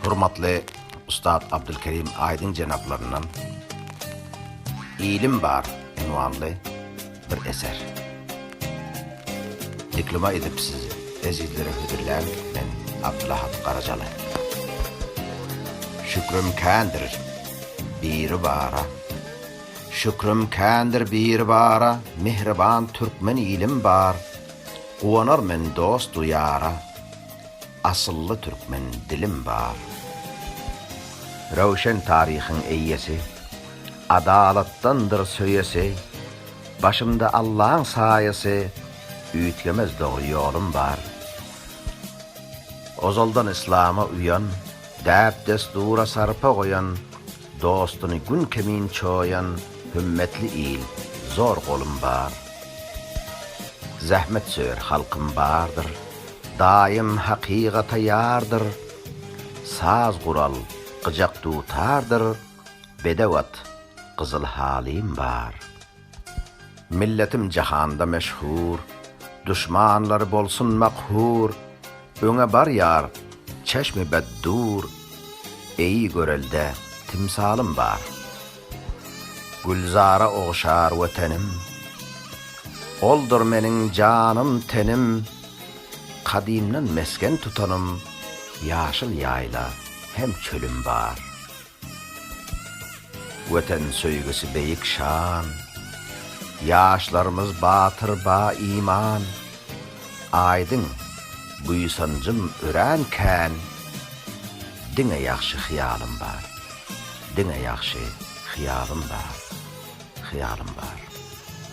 Hormatly Ustad Abdylkerim Aýdyň jenaplaryndan Ilim bar ynwanly bir eser dikluma edip sizi ezizlere hödürlän men Abdylahat Garajaly. Şükrüm kändir Biri bara Şükrüm kändir Biri bara Mihriban türkmen ilim bar Guwanar men dostu ýara Asylly türkmen dilim bar. Röwşen taryhyň eýesi, Adalatdandyr söýesi, Başymda Allaň saýasy, Üýtgemez dogry ýolum bar. Ozaldan yslama uýan, Däp-dessdura sarpa goýan, Dostuny gün kimin çoýan hümmetli il, zor golum bar. Zähmetsöýer halkym bardyr, daýym hakygata ýardyr. Saz gural, gyjak dutardyr, bedew at, gyzyl halym bar. Milletim jahanda meşhur, Duşmanlary bolsun makhur, Öňe barýar çeşmi beddur, Eý, görelde timsalym bar. Gülzara ogşar Wetenim, Oldur meniň janym-tenim, Kadymdan mesgen tutanym, Ýaşyl ýaýla hem çölüm bar. Watan söýgüsi beýik şan, Ýaşlarymyz batyr ba iman. Aýdyň, buýsanjym örän kän, Diňe ýagşy hyýalym bar, Diňe ýagşy hyýalym bar, Hyýalym bar.